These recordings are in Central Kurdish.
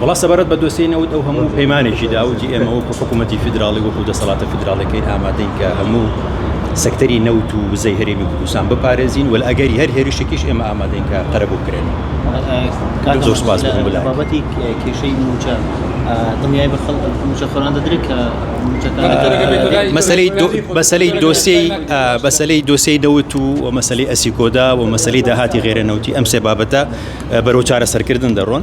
وەڵا سەبارەت بە دۆسێی نەوت ئەو هەموو پەیمانێکی دا و جی ئێمە وەکو حکوومەتی فیدراڵی وەکو دەسەڵاتە فیدراڵەکەی ئامادەین کە هەموو سەکتەری نەوت و وزەی هەرێمی کوردستان بپارێزین وەل ئەگەری هەر هێرشێکیش ئێمە ئامادەین کە قەرەبوو بکرێنەوە زۆر سپاس بۆ هەموو لایەک. بابەتی کێشەی مووچە دڵنیای بە خەڵک مووچەخۆران دەدرێت کە مووچەکە مەسەلەی دۆ- مەسەلەی دۆسێی ئا، مەسەلەی دۆسێی نەوت و و مەسەلەی ئەسیکۆدا و مەسەلەی داهاتی غێرە نەوتی ئەم سێ بابەتە بەرەو چارەسەرکردن دەڕۆن.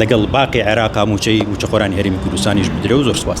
لەگەڵ باقی عێراقا موچەی موچەخۆرانی هەرێمی کوردستانیش بدرێ و زۆر سپاس.